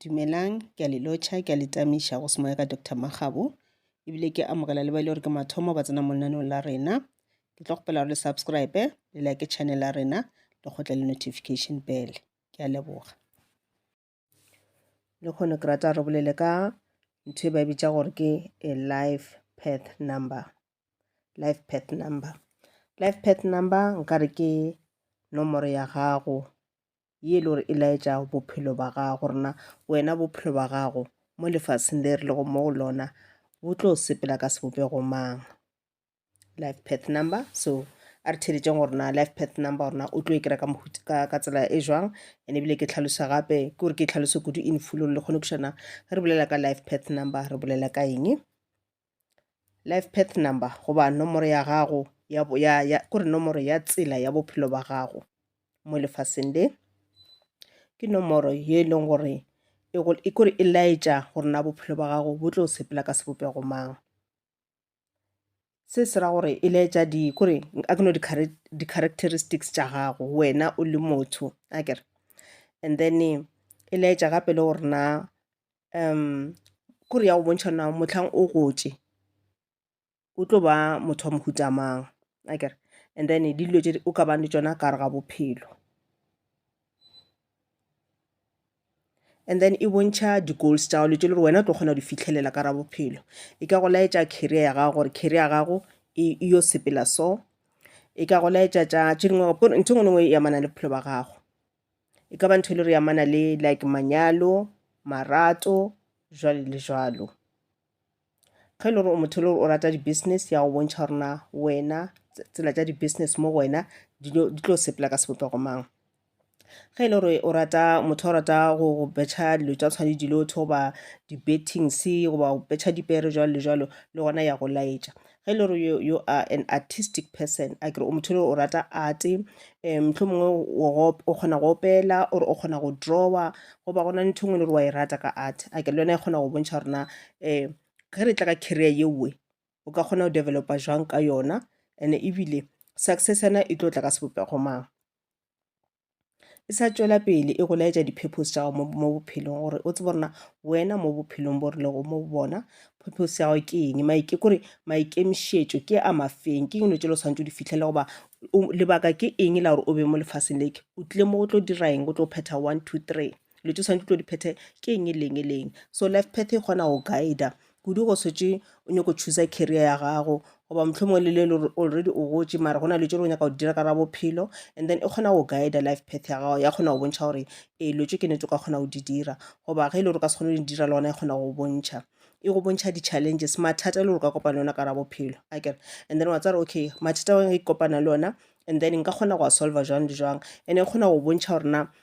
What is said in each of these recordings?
Dumelang, ke a le lotšha, ke a le tamiša go semoya ka Doctor Makgabo, ebile ke amogela le ba e le gore ke mathomo ba tsena mo lenaneong la rena. Ke tlo kgopela gore le subscribe, le like channel ya rena, le kgotle le notification bell. Ke a leboga. Le kgone ke rata re bolele ka ntho e ba e bitša gore ke a life path number. Life path number. Life path number nkare ke nomoro ya gago ye e le gore e laetša bophelo ba gago rena wena bophelo ba gago mo lefaseng le re lego mo go lona bo tlo sepela ka sebopego mang life path number so a re theletšeng gore na life path number gorena o tlo e kry-a ka tsela e jwang and ebile ke tlhalosa gape ke gore ke tlhalose kudu in full gore le kgone kušana re bolela ka life path number re bolela ka eng life path number goba nomoro ya gago ya, ya, ya kore nomoro ya tsela ya bophelo ba gago mo lefaseng le ke nomoro ye e leng gore e, e kore e laetša gore na bophelo ba gago bo tlo sepela ka sebopego mang se se ra gore e laetša di kore a ke no di-characteristics tša gago wena o le motho a kere and then e laetša gape le gore na um kore ya go bontšha na motlhang o gotše o tlo ba motho wa mohuta mang a kere and then di dilo tše o ka bang le tšona ka gare ga bophelo and then e bontšha di-goals tša gago tše le gore wena o tlo kgona go di fitlhelela ka ra bophelo e ka go laetša career ya gago gore career ya gago e, e yo sepela so e ka go laetša tša tše dingwe ntho e nngwe le nngwe e amana le bophelo ba gago E ka ba ntho e le re amana le like manyalo, marato, jwale le jwalo. Ge e le gore o motho e le gore o rata di-business ya go bontšha gore na wena tsela tša di-business mo go wena di tlo sepela ka sebopego mang. Ge e le gore o rata motho o rata go betšha dilo tša tshwana le dilotho goba di-bettings goba go betšha dipere jwalo le jwalo le gona ya go laetša. Ge e le gore you are an artistic person, a kere o motho e le gore o rata art, um mohlomongwe o kgona go opela or o kgona go drawer, go ba gona ntho engwe e le gore wa e rata ka art, a kere le yona e kgona go bontšha gore na um ge re tla ka career yeowe o ka kgona go developa jwang ka yona and ebile success yona e tlo tla ka sebopego mang. e sa tšwela pele e go laetša di-purpose tša gago mo bophelong gore o tsebe rena wena mo bophelong bo rilego mo bona purpose ya gago ke eng maike kore maikemišetšo ke a mafeng ke dilo tse le tshwanetse o di fitlhele goba lebaka ke eng la gore o be mo lefaseng leke o tlile mo go tlo dira eng go tlo phetha one two three dilo tše swanetše tlo di phethe ke eng e leng e leng so life path e kgona go guida kudu go swetše o nyako choosa career ya gago goba motlho mongwe le le le already o gotše mara go na le tše o nyaka go dira ka ra bophelo and then e kgona go guida life path ya gago ya kgona go bontšha gore ee lo tše ke netse o ka kgona go di dira goba ge e le gore o ka se kgone go di dira le gona e kgona go bontšha e go bontšha di-challenges mathata e le gore ka kopana le ona ka ra bophelo a kere and then wa tsare okay mathata a ke kopana le ona and then nka kgona go a solver jwang le jwang and e kgona go bontšha gore na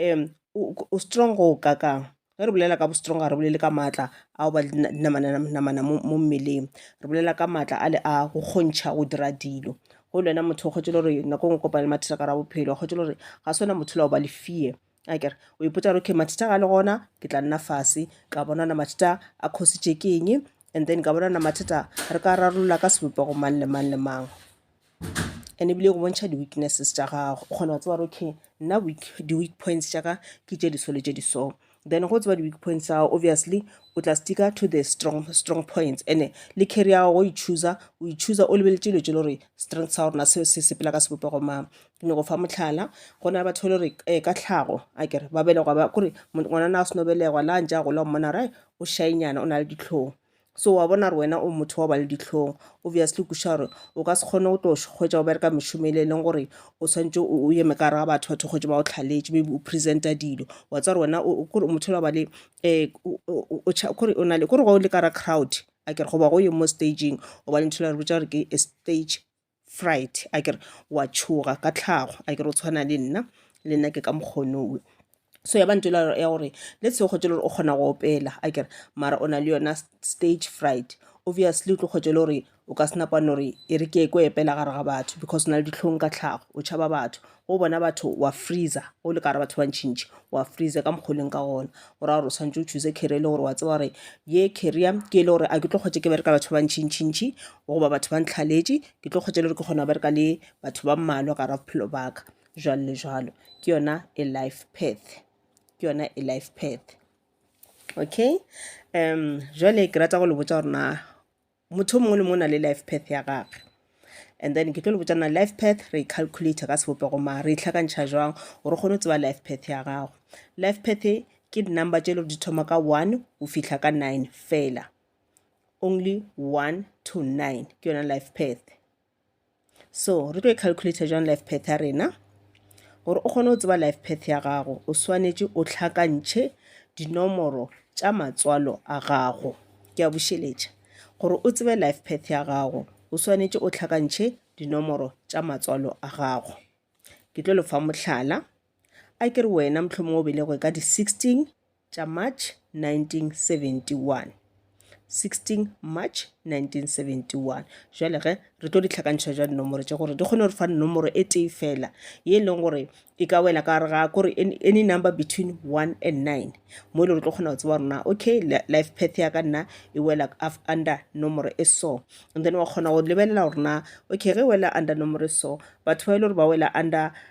um o strong go o kakang ge re bolela ka bo strong ga re bolele ka maatla ao ba dinamananamana mo mmeleng re bolela ka maatla a le a go kgontšha go dira dilo go le wena motho o kgwetse le gore nako ngwe kopane le mathata ka ra bophelo kgwetse le gore ga se wena motho la o ba le fear a kere o ipotsa gore okay mathata ga le gona ke tla nna fase ka bona ona mathata a khositše ke eng And then ka bona na mathata re ka rarolola ka sebopego mang le mang le mang. And ebile go bontšha di-weaknesses tša gago. O kgona go tseba gore okay nna weak di-weak points tša ka ke tše di so le tše di so. Then go tseba di-weak points tsa gago obviously o tla sticka to the strong strong points ene le carry ya gago o e choosa o e choosa o lebeletse dilo tše le gore strength sa gorena se se sepela ka sebopego mang ke nyako fa motlhala go na le batho le gore um ka tlhago a kere ba belegwa ba kore ngwanana a seno belegwa la ntse a gola mmona right o šainyana o na le ditlhong so wa bona gore wena o motho wa ba le ditlhong obviously kuša gore o ka se kgone go tlo hwetsa go bereka mešomo e le e leng gore o tshwanetse o o eme ka gare ga batho batho kgwetse ba o tlhaletše maybe o presenta dilo wa tsa gore wena o- o- kore o motho wa ba le um kore o na le kore ga o le ka ra crowd a kere goba go ye mo stageng o ba le ntho e le re botsa gore ke a stage fright a kere wa tšhoga ka tlhago a kere o tshwana le nna le nna ke ka mokgonowe so ya bantse ya gore le tseo kgotse le gore o kgona go opela a kere mara o na le yona stage fright obviously o tlo kgotse le gore o ka senapane gore e re ke ko epela gare ga batho because o na le ditlhong ka tlhago o tšhaba batho go bona batho wa freezer o le ka re batho ba ntšhintšhi wa freezer ka mokgwa o leng ka gona o ra gore o tshwanetse o choose career e le gore wa tseba gore ye career ke e le gore a ke tlo kgwetse ke bereka batho ba ntšhintšhintšhi goba batho ba ntlhaletše ke tlo kgwetse le gore ke kgona go bereka le batho ba mmalwa ka ra bophelo baka jalo le jalo ke yona e life path ke yona e life path okay um jale ke rata go le botsa gore na motho mongwe le mongwe na le life path ya gage and then ke tlo le botsana life path re calculate ka sebopego ma re itlhakantšha jwang gore kgone go tseba life path ya gago life path e ke di-number tše le gore di thoma ka one o fihla ka nine fela only one to nine ke yona life path So, re tlo e calculator jwang life path ya rena? Gore o kgone go tseba life path ya gago, o swanetše o tlhakantšhe dinomoro tša matswalo a gago. Ke a bušeletša. Gore o tsebe life path ya gago, o swanetše o tlhakantšhe dinomoro tša matswalo a gago. Ke tlo lefa mohlala. A ke re wena mohlomongwe o belegwe ka di-sixteen tša March 1971, 16 March 1971. Bjale ge re tlo di hlakantšha bjang dinomoro tše gore di kgone gore fa nomoro e tee fela ye e leng gore e ka wela ka gare ga kore any number between one and nine mo e le gore tlo kgona go tseba gore na okay life path ya ka nna e wela under nomoro e so and then wa kgona go lebelela gore na okay ge e wela under nomoro e so batho ba e le gore ba wela under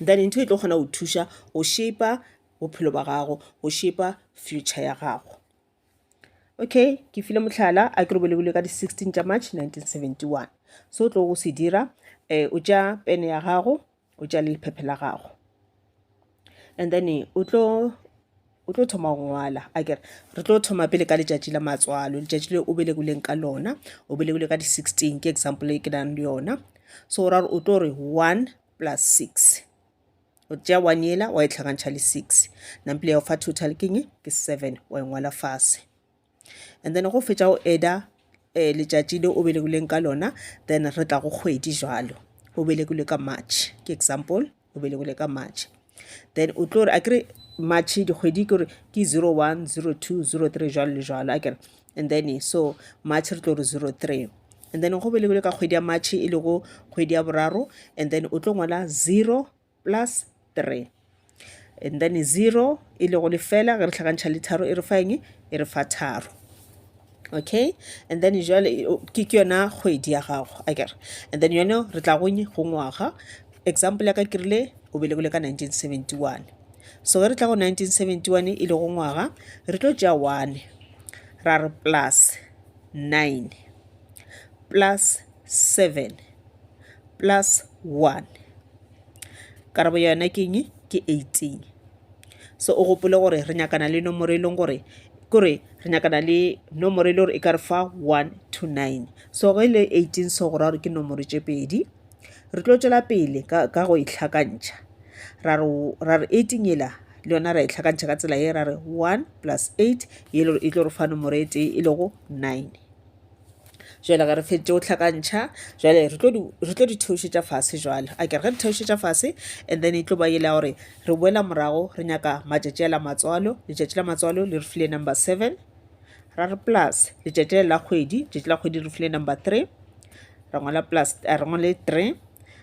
then ntho e tlo kgona go thuša go shaper bophelo ba gago go shaper future ya gago okay ke file mohlala a ke re bolebole ka di-sixteen tša march 1971 so o tlo go se dira um o tša pene ya gago o tša le lephephe la gago and then o tlo o tlo thoma go ngwala a kere re tlo thoma pele ka letšatši la matswalo letšatši le o belegoleng ka lona o belegole ka di-sixteen ke example e ke nang le yona so ra gore o tlo re one plus six o tšea one yela wa e tlhakantšha le six nampile ya go fa total ke nye ke seven wa e ngwala fase and then go fetša o eda um eh, letšatši le o belegileng ka lona then re tla go kgwedi jalo o belegilwe ka march ke example o belegilwe ka march then o tlo re a kere march dikgwedi ke gore ke zero one zero two zero three jwalo le jwalo a kere and then so march re tlo re zero three and then go belegile ka kgwedi ya march e lego kgwedi ya boraro and then o tlo ngwala zero plus three and then zero e lego lefela ge re tlhakantšha le tharo e re fa eng e re fa tharo okay and then jale ke ke yona kgwedi ya gago a kere and then yone re tla go nye go ngwaga example ya ka ke rile o belegile ka 1971 so ge re tla go 1971 e le go ngwaga re tlo tšea one ra re plus nine plus seven plus one karabo yona ke eng ke eighteen so o gopole gore re nyakana le nomoro e leng gore kore re nyakana le nomoro e le gore e ka re fa one to nine so ge e le eighteen so go ra gore ke nomoro tše pedi re tlo tšwela pele ka go e tlhakantšha ra re eighteen yela le yona ra e tlhakantšha ka tsela ye ra re one plus eight ye e tlo re fa nomoro e tee e lego nine jale ge re feditše go hlakantšha jale re tlo di theošetša fase jale a kere ge di theošetša fase and then e tlo ba ele ya gore re boela morago re nyaka matšatši a la matswalo letšatši la matswalo le re file number seven ra re plus letšatši la kgwedi tšatši la kgwedi re file number three ra ngwala plus eh, re ngwale three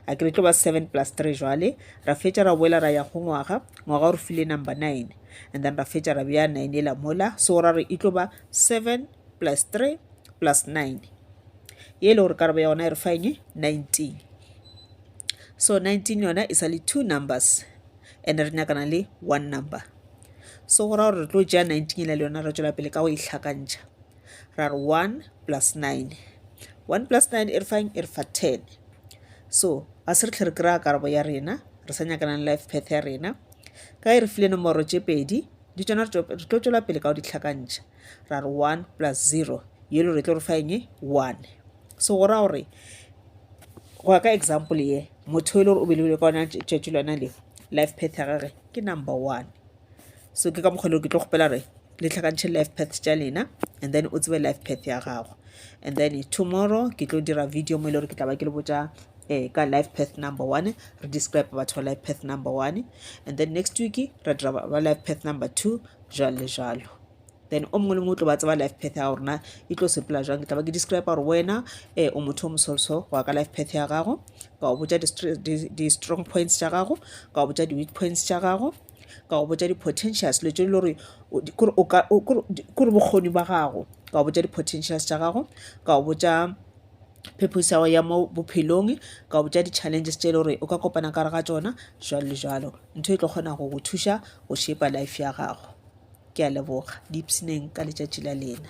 a ke re tlo ba seven plus three jwale ra fetša ra boela ra ya go ngwaga ngwaga o re file number nine and then ra fetša ra beya nine e la mola so ra re e tlo ba seven plus 3 plus 9 ye e le gore karabo ya gona e re fa eng 19 so 19 yona e sa le two numbers and re nyakana le one number so go ra gore re tlo ja 19 le yona re tswela pele ka go e tlhakantšha ra re 1 plus 9 1 plus 9 e re fang e re fa 10 so a se re tlhe re kry-a karabo ya rena re sa nyakanang life path ya rena ka e re file nomoro tše pedi di tsona re tlo tswela pele ka go ditlhakantšha ra re 1 plus 0 yelo re tlo re fa enge 1 so go ra gore go ya ka example ye motho e le gore o belegile ka ona tšatši lona le life path ya gage ke number one so ke ka mokgwa le ke tlo kgopela re le tlhakantšhe life path tša lena and then o tsebe life path ya gago and then tomorrow ke tlo dira video mo e le gore ke tla ba ke le botša eh, ka life path number one re describe batho ba life path number one and then next week ra dira ba life path number two jalo le jalo then o mongwe le mongwe o tlo ba tseba life path ya gago rena e tlo sepela jang ke tla ba ke describe gore wena um o motho o mosolso go ya ka life path ya gago ka go botja di-strong points tša gago ka go botja di-weak points tša gago ka go botja di-potentials dilo tse e le gore kore bokgoni ba gago ka go botja di-potentials tša gago ka go botja phephosi ya go ya mo bophelong ka botša di-challenges tše e le gore o ka kopana ka re ga tsona jalo le jalo ntho e tlo kgona go go thuša go shepa life ya gago ke a leboga di ipsineng ka letšatši la lena